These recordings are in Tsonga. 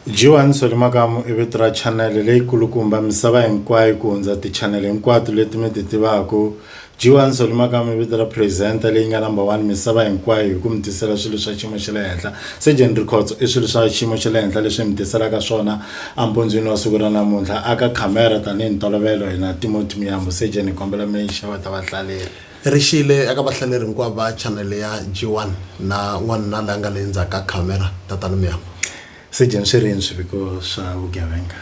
Joan Solly Makamu i vito ra chanele leyikulukumba misava hinkwayo ku hundza tichanele hinkwato leti mi ti tivaka. Joan Solly Makamu i vito ra presenter leyi nga number one misava hinkwayo hi ku mi tisela swilo swa xiyimo xa le henhla. Surgeon Rikhotso i swilo swa xiyimo xa le henhla leswi hi mi tiselaka swona empundzwini wa siku ra namuntlha. A ka camera tanihi ntolovelo hi na Timothy Muyambo. Surgeon hi kombela mi xeweta vahlaleri. Ri xile eka vahlaleri hinkwavo va chanele ya G1 na n'wanuna la nga le ndzhaku ka khamera, Tatana Miyambo. Sejeni swi rini swiviko swa vugevenga?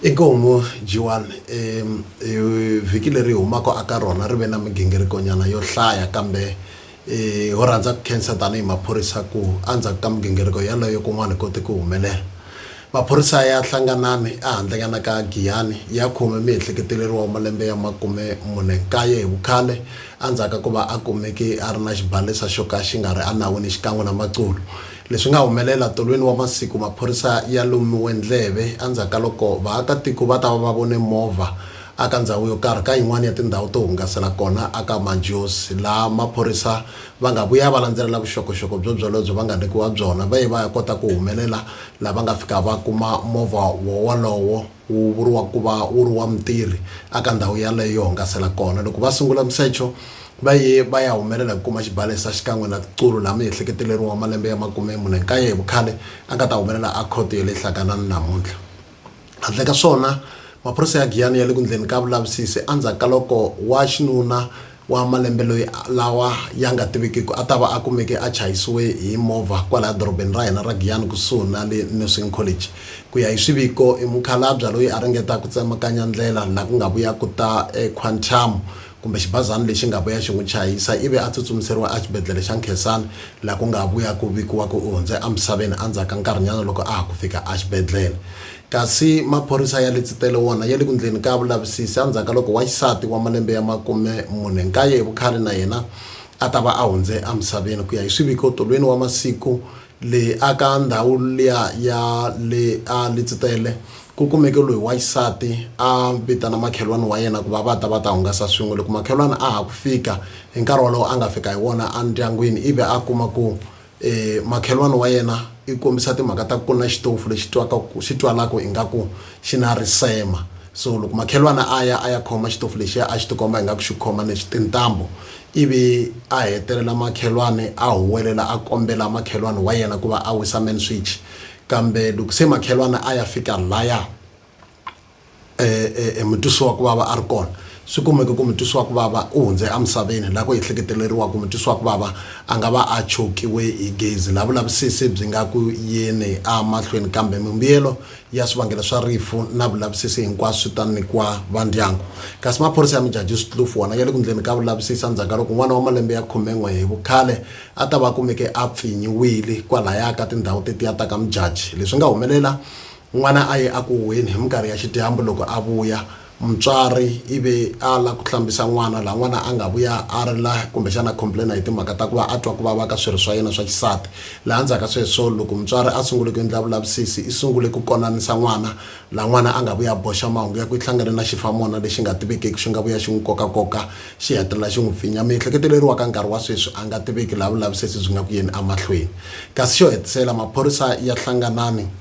Inkomu, G1, e, e, vhiki leri hi humaka aka rona ri ve na migingirikonyana yo hlaya, kambe e, ho rhandza ku khensa tanihi maphorisa ku endzhaku ka migingiriko yaleyo kun'wana hi kote ku humelela. Maphorisa ya Hlanganani ehandlenyana ka Giyani ya khome muehleketeleriwa wa malembe ya makume mune nkaye hi vukhale endzhaku ka ku va a kumeke a ri na xibalesa xo ka xi nga ri enawini xikan'we na maculo. Leswi nga humelela tolweni wa masiku maphorisa ya lumiwe ndleve endzhaku ka loko vaakatiko va ta va va vone movha eka ndhawu yo karhi ka yin'wana ya tindhawu to hungasela kona aka Majozi laha maphorisa va nga vuya va landzelela vuxokoxoko byo byolobyo va nga nyikiwa byona va ye va ya kota ku humelela la va nga fika va kuma movha wo wolowo wu vuriwa ku va wu ri wa mutirhi a ka ndhawu yaleyo yo hungasela kona loko va sungula musecho va ye va ya humelela hi ku kuma xibalesa xikan'we na tiqulu laha miehleketeleriwa wa malembe ya makume mune nkaye hi vukhale a nga ta humelela a khoto ya le hlakanani namuntlha Handle ka swona, maphorisa ya Giyani ya le ku ndleni ka vulavisisi endzhaku ka loko wa xinuna wa malembe loyi lawa ya nga tivikiki a ta va a kumeke a chayisiwe hi movha kwalaya dorobeni ra hina ra Giyani kusuhi na le Nursing College. Ku ya hi swiviko, i mukhalabya loyi a ringeta ku tsemakanya ndlela laha ku nga vuya ku ta eQuantum kumbe xibazana lexi nga vuya xi n'wi chayisa ivi a tsutsumiseriwa exibedlhele xa Nkhensani laha ku nga vuya ku vikiwa ku u hundze emisaveni endzhaku ka nkarhinyana loko a ha ku fika exibedlhele. Kasi maphorisa ya le Tsitele wona ya le ku ndleni ka vulavisisi endzhaku ka loko wa xisati wa malembe ya makume mune nkaye hi vukhale na yena a ta va a hundze emisaveni ku ya hi swiviko tolweni wa masiku le aka ndhawu liya ya le a Litsitele, ku kumeke loyi wa xisati a vitana makhelwani wa yena ku va va ta va ta hungasa swin'we. Loko makhelwani a ha ku fika hi nkarhi wolowo a nga fika hi wona endyangwini ivi a kuma ku makhelwani wa yena i kombisa timhaka ta ku na xitofu lexi twaka ku xi twalaka ingaku xi na risema. So loko makhelwani a ya a ya khoma xitofu lexiya a xi tikomba ingaku xi khoma ni tintambu ivi a hetelela makhelwani a huwelela a kombela makhelwani wa yena ku va a wisa man switch kambe loko se makhelwani a ya fika laya e, e, e mutwisiwa ku vava a ri kona swi kumeke ku mutwisiwa ku vava u hundze emisaveni laha ku ehleketeleriwa ku mutwisiwa ku vava a nga va a chokiwe hi gezi laha vulavisisi byi nga ku yini a mahlweni kambe mimbuyelo ya swivangelo swa rifu na vulavisisi hinkwaswo swi ta nyikiwa va ndyangu kasi maphorisa ya mijaji switlufu wona ya le ku ndleni ka vulavisisi endzhaku ka loko n'wana wa malembe ya khumen'we hi vukhale a ta va kumeke a pfinyiwile kwalaya ka tindhawu tetiya ta ka mijaji leswi nga humelela n'wana a ye a ku huheni hi minkarhi ya xidyambu loko a vuya mutswari ivi a lava ku hlambisa n'wana laha n'wana a nga vuya a ri la kumbexana a complain hi timhaka ta ku va a twa ku vava ka swirho swa yena swa xisati laha ndzhaku ka sweswo loko mutswari a sungule ku endla vulavisisi i sungule ku konanisa n'wana laha n'wana a nga vuya a boxa mahungu ya ku i hlangane na xifamona lexi nga tivekeki xi nga vuya xi n'wi koka koka xi hetelela xi n'wi pfinya miehleketo leyi ri wa ka nkarhi wa sweswi a nga tiveki laha vulavisisi byi nga ku yeni emahlweni kasi xo hetisela maphorisa ya hlanganani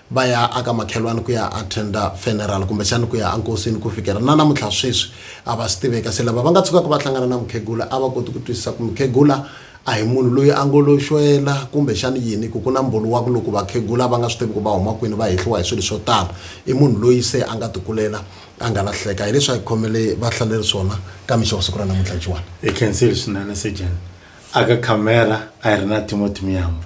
va ya aka makhelwani ku ya attenda funeral kumbexani ku ya enkosini ku fikela na namuntlha sweswi a va swi tiveka se lava va nga tshukaka va hlangana na mukhegula a va koti ku twisisa ku mukhegula a hi munhu loyi a ngo lo xwela kumbexani yini ku ku na mbhoni wa ku loko vakhegula va nga swi tivi ku va huma kwini va hehliwa hi swilo swo tala i munhu loyi se a nga tikulela a nga lahleka hi leswi a hi khomele va hlaleri swona ka mixa wa siku ra namuntlha jiwani hi khensile swinene sejeni aka camera a hi ri na timothy miyambo